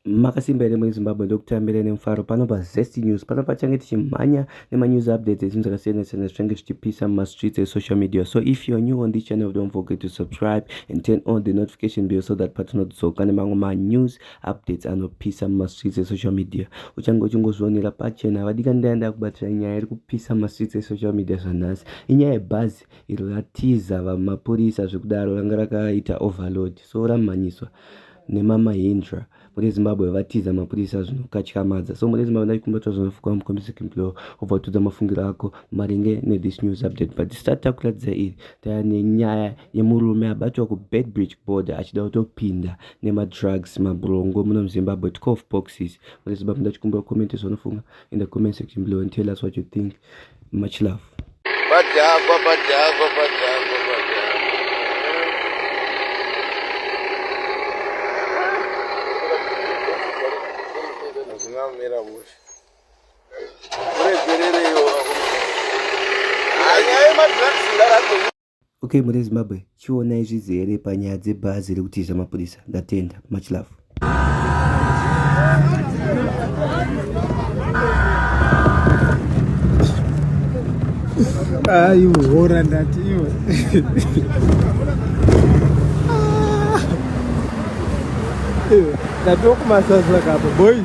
Makasimba here muri Zimbabwe ndokutambira ine mufaro pano pa Zesty News pano pachange tichimhanya nema news updates ezvinhu zvakasiyana siyana zvichange zvichipisa muma streets e social media so if you are new on this channel don't forget to subscribe and turn on the notification bell so that patinodzoka nemamwe ma news updates anopisa muma streets e social media uchange uchingozvionera pachena havadikani ndaya ndakubatira nyaya iri kupisa muma streets e social media zvanhasi inyaya yebhazi iri ratiza vamapurisa zvekudaro ranga rakaita overload so ramhanyiswa nema Mahindra mune Zimbabwe vatiza mapurisa zvinokatyamadza so mune Zimbabwe ndaikumbira kuti vazonofukwa mukombise kimplow obva watudza mafungiro ako maringe ne this news update but this tati takuratidza iri taya nenyaya yemurume abatwa ku Beitbridge border achida kutopinda nema drugs mabrongo muno muZimbabwe 12 boxes mune Zimbabwe ndachikumbira comment zvanofunga in the comment section below and tell us what you think much love badhakwa badhakwa badhakwa zvingamira mushe kuregerereyo anyaya yemadrugs ndarako Okay mune Zimbabwe chiona izvizi here panyaya dzebhazi rekuti zvamapurisa ndatenda much love aiuhora ah, ndati iwe ndatokumasaza kapo boys